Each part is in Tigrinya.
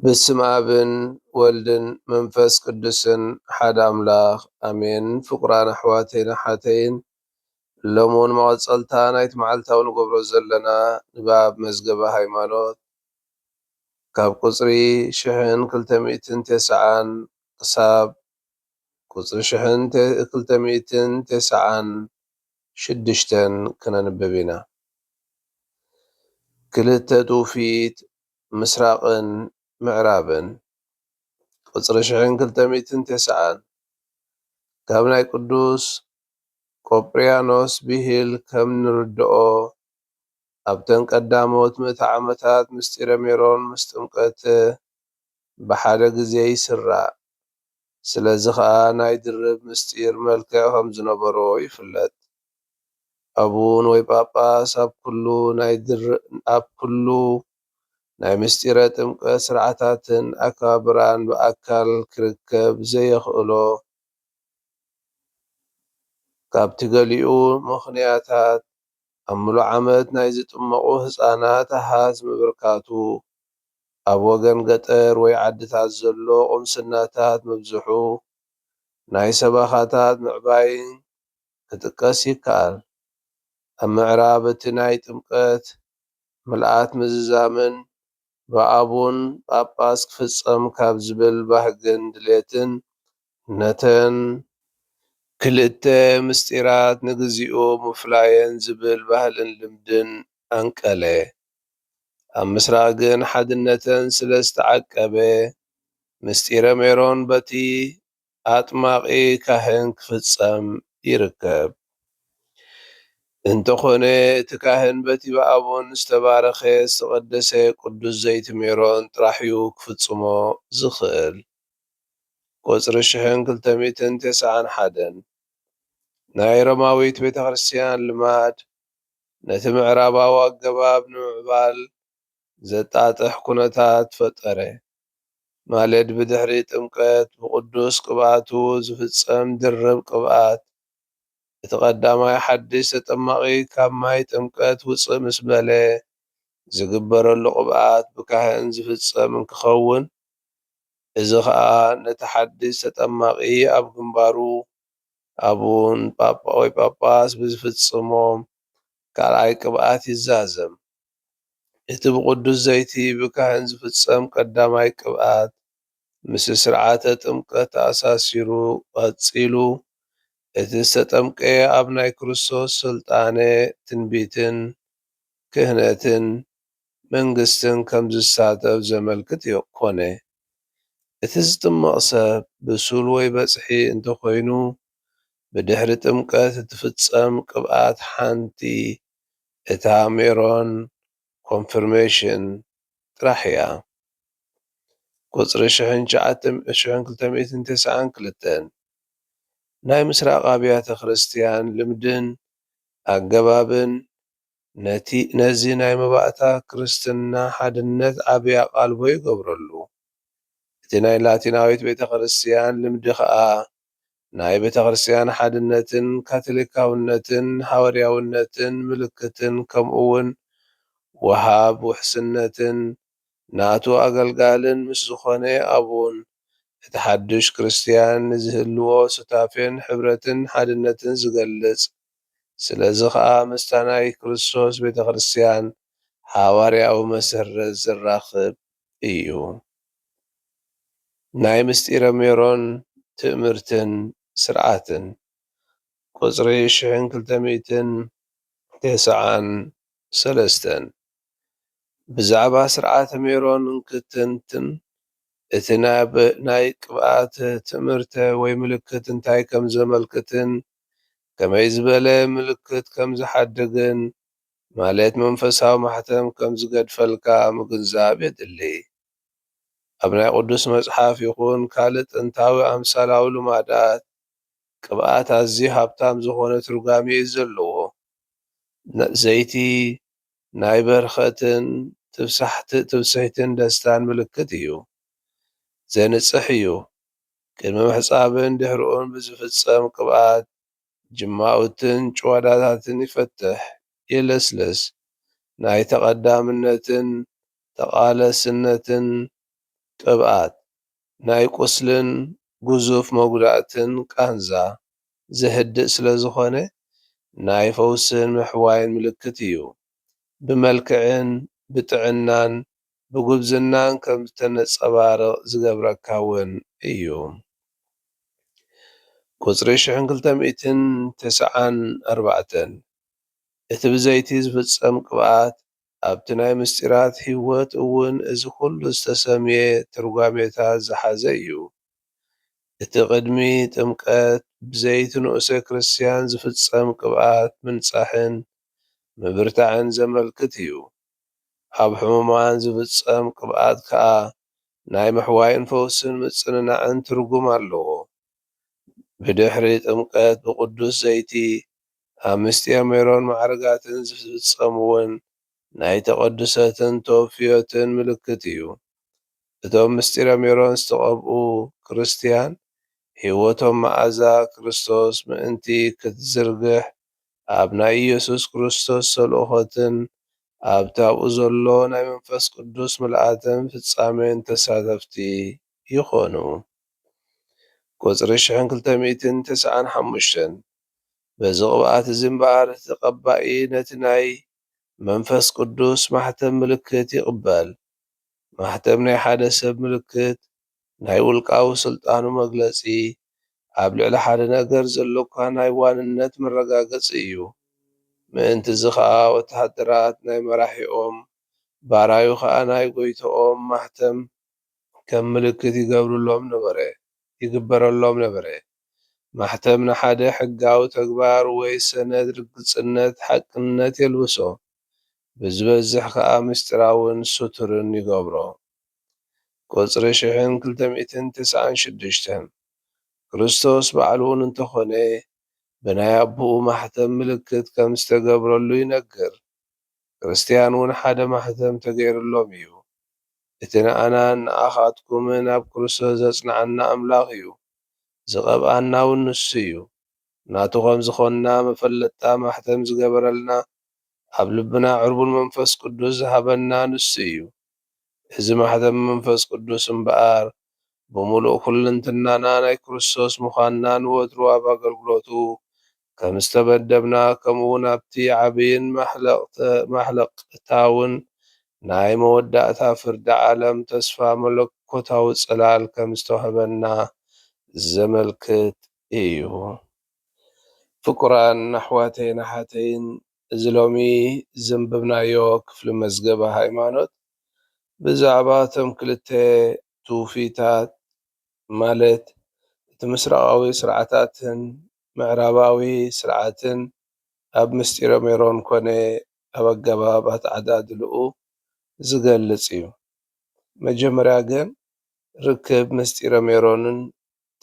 በስመ ኣብን ወልድን መንፈስ ቅዱስን ሓደ ኣምላኽ ኣሜን። ፍቁራን ኣሕዋተይን ኣሓተይን ሎምውን መቐጸልታ ናይቲ መዓልታዊ ንገብሮ ዘለና ንባብ መዝገበ ሃይማኖት ካብ ቁጽሪ ሽሕን ክልተ ሚእትን ቴስዓን ክሳብ ቁጽሪ ሽሕን ክልተ ሚእትን ቴስዓን ሽዱሽተን ክነንብብ ኢና። ክልተ ትውፊት ምስራቕን ምዕራብን ቁጽሪ ሽሕን ክልተ ሚእትን ቴስዓን ካብ ናይ ቅዱስ ቆጵርያኖስ ብሂል ከም ንርድኦ፣ ኣብተን ቀዳሞት ምእተ ዓመታት ምስጢረ ሜሮን ምስ ጥምቀት ብሓደ ግዜ ይስራዕ። ስለዚ ኸኣ ናይ ድርብ ምስጢር መልክዕ ከም ዝነበሮ ይፍለጥ። ኣቡን ወይ ጳጳስ ኣብ ኩሉ ናይ ኣብ ኩሉ ናይ ምስጢረ ጥምቀት ስርዓታትን ኣከባብራን ብኣካል ክርከብ ዘየኽእሎ ካብቲ ገሊኡ ምኽንያታት፣ ኣብ ምሉእ ዓመት ናይ ዝጥመቑ ህጻናት ኣሃዝ ምብርካቱ፣ ኣብ ወገን ገጠር ወይ ዓድታት ዘሎ ቁምስናታት ምብዝሑ፣ ናይ ሰበኻታት ምዕባይን ክጥቀስ ይከኣል። ኣብ ምዕራብ እቲ ናይ ጥምቀት፣ ምልኣት ምዝዛምን ብኣቡን ጳጳስ ክፍጸም ካብ ዝብል ባህግን ድሌትን ነተን ክልተ ምስጢራት ንግዚኡ ምፍላየን ዝብል ባህልን ልምድን ኣንቀለ። ኣብ ምስራቕ ግን ሓድነተን ስለ ዝተዓቀበ ምስጢረ ሜሮን በቲ ኣጥማቒ ካህን ክፍጸም ይርከብ። እንተኾነ እቲ ካህን በቲ ብኣቡን ዝተባረኸ ዝተቐደሰ ቅዱስ ዘይቲ ሜሮን ጥራሕ'ዩ ክፍጽሞ ዝኽእል። ቁጽሪ ሽሕን ክልተ ሚእትን ተሰዓን ሓደን ናይ ሮማዊት ቤተክርስትያን ልማድ ነቲ ምዕራባዊ ኣገባብ ንምዕባል ዘጣጥሕ ኩነታት ፈጠረ። ማለት ብድሕሪ ጥምቀት ብቅዱስ ቅብኣቱ ዝፍጸም ድርብ ቅብኣት፣ እቲ ቀዳማይ ሓድሽ ተጠማቂ ካብ ማይ ጥምቀት ውጽእ ምስ በለ ዝግበረሉ ቅብኣት ብካህን ዝፍጸም እንክኸውን እዚ ከኣ ነቲ ሓድሽ ተጠማቂ ኣብ ግንባሩ ኣቡን፣ ጳጳ ወይ ጳጳስ፣ ብዝፍጽሞም ካልኣይ ቅብኣት ይዛዘም። እቲ ብቕዱስ ዘይቲ ብካህን ዝፍጸም ቀዳማይ ቅብኣት፣ ምስ ሥርዓተ ጥምቀት ተኣሳሲሩ ቐጺሉ እቲ ዝተጠምቀ ኣብ ናይ ክርስቶስ ሥልጣነ ትንቢትን ክህነትን መንግሥትን ከም ዝሳተፍ ዘመልክት ኮነ። እቲ ዝጥመቕ ሰብ ብሱል ወይ በጽሒ እንተኾይኑ፣ ብድኅሪ ጥምቀት እትፍጸም ቅብኣት ሓንቲ እታ ሜሮን ኮንፍርሜሽን ጥራሕ እያ። ቁፅሪ ሽሕን ሽሕን ክልተ ሚእትን ተስዓን ክልተን ናይ ምስራቕ ኣብያተ ክርስቲያን ልምድን ኣገባብን ነዚ ናይ መባእታ ክርስትና ሓድነት ዓብይ ኣቓልቦ ይገብረሉ። እቲ ናይ ላቲናዊት ቤተ ክርስቲያን ልምዲ ከዓ ናይ ቤተክርስቲያን ሓድነትን ካቶሊካውነትን ሃወርያውነትን ምልክትን ከምኡውን ወሃብ ውሕስነትን ናቱ ኣገልጋልን ምስ ዝኾነ ኣቡን እቲ ሓዱሽ ክርስቲያን ንዝህልዎ ሱታፌን ሕብረትን ሓድነትን ዝገልጽ ስለዚ ከኣ ምስታ ናይ ክርስቶስ ቤተክርስቲያን ሓዋርያዊ መሰረት ዘራኽብ እዩ። ናይ ምስጢረ ሜሮን ትእምርትን ስርዓትን ቁጽሪ ሽሕን ክልተ ሚእትን ቴስዓን ሰለስተን ብዛዕባ ስርዓተ ሜሮን እንክትንትን እቲ ናይ ቅብኣት ትእምርተ ወይ ምልክት እንታይ ከም ዘመልክትን ከመይ ዝበለ ምልክት ከም ዝሓድግን ማለት መንፈሳዊ ማሕተም ከም ዝገድፈልካ ምግንዛብ የድሊ። ኣብ ናይ ቅዱስ መጽሓፍ ይኹን ካልእ ጥንታዊ ኣምሳላዊ ልማዳት ቅብኣት ኣዝዩ ሃብታም ዝኾነ ትርጓሜ እዩ ዘለዎ። ዘይቲ ናይ በርኸትን ትብስሕትን ደስታን ምልክት እዩ። ዘንጽሕ እዩ። ቅድሚ ምሕጻብን ድሕርኡን ብዝፍጸም ቅብኣት ጅማውትን ጭዋዳታትን ይፈትሕ የለስልስ፣ ናይ ተቐዳምነትን ተቓለስነትን ቅብኣት፣ ናይ ቁስልን ግዙፍ መጉዳእትን ቃንዛ ዘህድእ ስለ ዝኾነ ናይ ፈውስን ምሕዋይን ምልክት እዩ። ብመልክዕን ብጥዕናን ብጉብዝናን ከም እተነጸባርቕ ዝገብረካ እውን እዩ። ቍጽሪ ሽሕን ክልተ ሚእትን ተሰዓን ኣርባዕተን፣ እቲ ብዘይቲ ዝፍጸም ቅብኣት፣ ኣብቲ ናይ ምሥጢራት ሕይወት እውን እዚ ዅሉ ዝተሰምየ ትርጓሜታት ዝሓዘ እዩ። እቲ ቕድሚ ጥምቀት ብዘይቲ ንኡሰ ክርስትያን ዝፍጸም ቅብኣት ምንጻሕን ምብርታዕን ዘመልክት እዩ። ኣብ ሕሙማን ዝፍጸም ቅብኣት ከኣ ናይ ምሕዋይን ፈውስን ምጽንናዕን ትርጉም ኣለዎ። ብድሕሪ ጥምቀት ብቅዱስ ዘይቲ ኣብ ምስጢር ሜሮን ማዕርጋትን ዝፍጸም'ውን ናይ ተቀድሶትን ተወፍዮትን ምልክት እዩ። እቶም ምስጢረ ሜሮን ዝተቀብኡ ክርስትያን ሕይወቶም መኣዛ ክርስቶስ ምእንቲ ክትዝርግሕ ኣብ ናይ ኢየሱስ ክርስቶስ ተልእኾትን ኣብቲ ኣብኡ ዘሎ ናይ መንፈስ ቅዱስ ምልኣትን ፍጻሜን ተሳተፍቲ ይኾኑ። ቁጽሪ ሽሕን ክልተ ሚእትን ተሰዓን ሓሙሽተን በዚ ቅብኣት እዚ እምበኣር እቲ ተቀባኢ ነቲ ናይ መንፈስ ቅዱስ ማሕተም ምልክት ይቅበል። ማሕተም ናይ ሓደ ሰብ ምልክት ናይ ውልቃዊ ስልጣኑ መግለጺ፣ ኣብ ልዕሊ ሓደ ነገር ዘሎካ ናይ ዋንነት መረጋገጺ እዩ። ምእንት'ዚ ኸኣ ወተሃደራት ናይ መራሒኦም፣ ባራዩ ኸኣ ናይ ጎይቶኦም ማሕተም ከም ምልክት ይገብርሎም ነበረ፣ ይግበረሎም ነበረ። ማሕተም ንሓደ ሕጋዊ ተግባር ወይ ሰነድ ርግጽነት፣ ሓቅነት፣ የልብሶ። ብዝበዝሕ ከኣ ምስጢራውን ስቱርን ይገብሮ። ቁጽሪ ሽሕን ክልተ ሚእትን ትስዓን ሽዱሽተን፣ ክርስቶስ ባዕሉ'ውን እንተኾነ ብናይ ኣቦኡ ማሕተም ምልክት ከም ዝተገብረሉ ይነግር። ክርስትያን'ውን ሓደ ማሕተም ተገይርሎም እዩ። እቲ ንኣናን ንኣኻትኩምን ኣብ ክርስቶስ ዘጽንዓና ኣምላኽ እዩ። ዝቐብኣና'ውን ንሱ እዩ። ናቱ ከም ዝኾንና መፈለጥታ ማሕተም ዝገበረልና፣ ኣብ ልብና ዕርቡን መንፈስ ቅዱስ ዝሃበና ንሱ እዩ። እዚ ማኅተም መንፈስ ቅዱስ እምበኣር ብምሉእ ኵልንትናና ናይ ክርስቶስ ምዃንና ንወትሩ ኣብ ኣገልግሎቱ ከም ዝተመደብና ከምኡውን ኣብቲ ዓቢይን ማሕለቕታውን ናይ መወዳእታ ፍርዲ ዓለም ተስፋ መለኮታዊ ጽላል ከም ዝተዋህበና ዘመልክት ኢዩ። ፍቁራን ኣሕዋተይን ኣሓተይን፣ እዚ ሎሚ ዘንበብናዮ ክፍሊ መዝገበ ሃይማኖት ብዛዕባ እቶም ክልተ ትውፊታት ማለት እቲ ምስራቓዊ ስርዓታትን ምዕራባዊ ስርዓትን ኣብ ምስጢረ ሜሮን ኮነ ኣብ ኣገባብ ኣተዓዳድልኡ ዝገልጽ እዩ። መጀመርያ ግን ርክብ ምስጢረ ሜሮንን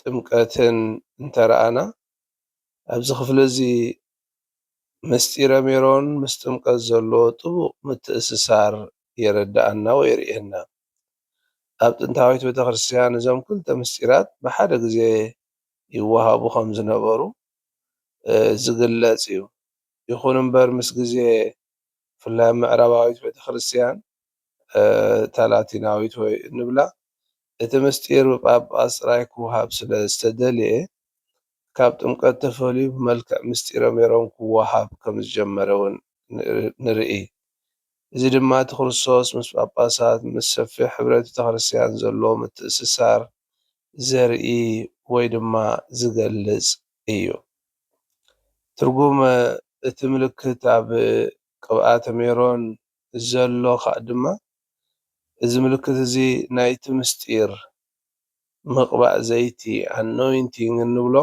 ጥምቀትን እንተረኣና ኣብዚ ክፍሊ እዚ ምስጢረ ሜሮን ምስ ጥምቀት ዘሎ ጥቡቕ ምትእስሳር የረድኣና ወይ የርእየና። ኣብ ጥንታዊት ቤተክርስትያን እዞም ክልተ ምስጢራት ብሓደ ግዜ ይወሃቡ ከም ዝነበሩ ዝግለጽ እዩ። ይኹን እምበር ምስ ግዜ ብፍላይ ኣብ ምዕራባዊት ቤተክርስትያን እታ ላቲናዊት ወይ እንብላ እቲ ምስጢር ብጳጳስ ጥራይ ክወሃብ ስለ ዝተደልየ ካብ ጥምቀት ተፈልዩ ብመልክዕ ምስጢረ ሜሮን ክወሃብ ከም ዝጀመረ ውን ንርኢ። እዚ ድማ እቲ ክርስቶስ ምስ ጳጳሳት ምስ ሰፊሕ ሕብረ ቤተክርስትያን ዘለዎ ምትእስሳር ዘርኢ ወይ ድማ ዝገልጽ እዩ። ትርጉም እቲ ምልክት ኣብ ቅብኣተ ሜሮን ዘሎ ከኣ ድማ እዚ ምልክት እዚ ናይቲ ምስጢር ምቕባእ ዘይቲ፣ Anointing፣ እንብሎ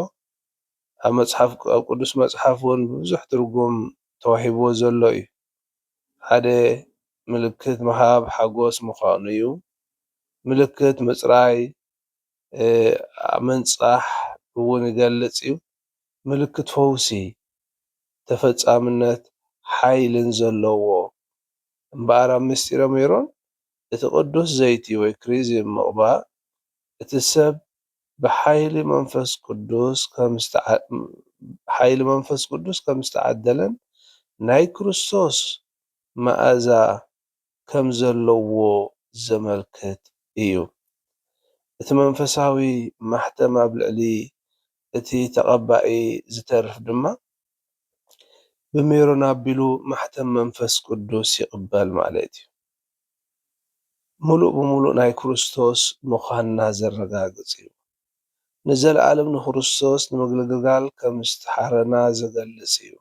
ኣብ መጽሓፍ ኣብ ቅዱስ መጽሓፍ ውን ብብዙሕ ትርጉም ተዋሂብዎ ዘሎ እዩ። ሓደ ምልክት ምሃብ ሓጎስ ምዃኑ እዩ። ምልክት ምጽራይ፣ ምንጻሕ፣ ውን ይገልጽ እዩ። ምልክት ፈውሲ፣ ተፈጻምነትን ሓይልን ዘለዎ እምበኣር ኣብ ምሥጢረ ሜሮን እቲ ቅዱስ ዘይቲ ወይ ክሪዝም ምቕባእ እቲ ሰብ ብሓይሊ መንፈስ ቅዱስ ከምዝተዓደለን ናይ ክርስቶስ መኣዛ ከም ዘለዎ ዘመልክት እዩ። እቲ መንፈሳዊ ማሕተም ኣብ ልዕሊ እቲ ተቐባኢ ዝተርፍ ድማ ብሜሮን ኣቢሉ ማሕተም መንፈስ ቅዱስ ይቕበል ማለት እዩ። ምሉእ ብምሉእ ናይ ክርስቶስ ምዃንና ዘረጋግጽ እዩ። ንዘለኣለም ንክርስቶስ ንምግልግጋል ከም ዝተሓረና ዝገልጽ እዩ።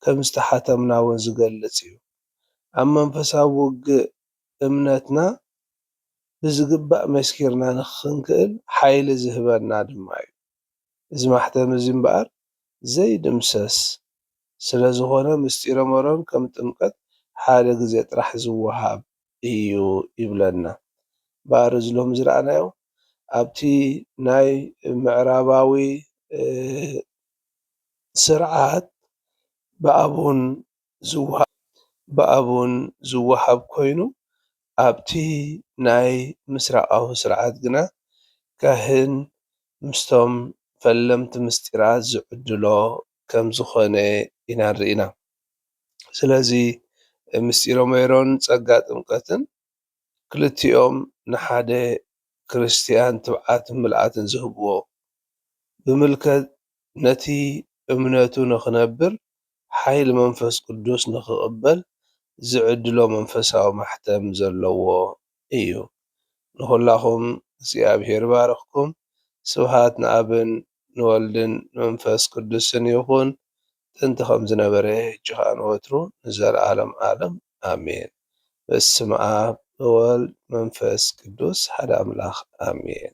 ከም ዝተሓተምና እውን ዝገልጽ እዩ። ኣብ መንፈሳዊ ውግእ እምነትና ብዝግባእ መስኪርና ንኽንክእል ሓይሊ ዝህበና ድማ እዩ። እዚ ማሕተም እዚ እምበኣር ዘይድምሰስ ስለ ዝኾነ ምስጢረ መሮን ከም ጥምቀት ሓደ ግዜ ጥራሕ ዝወሃብ እዩ ይብለና። እምበኣር እዚ ሎሚ ዝረኣናዮ ኣብቲ ናይ ምዕራባዊ ስርዓት ብኣቡን ዝወሃብ ብኣቡን ዝወሃብ ኮይኑ ኣብቲ ናይ ምስራቓዊ ስርዓት ግና ካህን ምስቶም ፈለምቲ ምስጢራት ዝዕድሎ ከም ዝኾነ ኢና ንርኢ ኢና። ስለዚ ምስጢረ ሜሮን ጸጋ ጥምቀትን ክልቲኦም ንሓደ ክርስትያን ትብዓትን ምልኣትን ዝህብዎ፣ ብምልከት ነቲ እምነቱ ንኽነብር ሓይሊ መንፈስ ቅዱስ ንኽቕበል ዝዕድሎ መንፈሳዊ ማሕተም ዘለዎ እዩ። ንኹላኹም እግዚኣብሔር ይባርኽኩም። ስብሃት ንኣብን ንወልድን መንፈስ ቅዱስን ይኹን ጥንቲ ከምዝነበረ ህጂ ከኣ ንወትሩ ንዘልኣለም ኣለም ኣሜን በስመ ኣብ እወልድ መንፈስ ቅዱስ ሓደ ኣምላክ ኣሜን።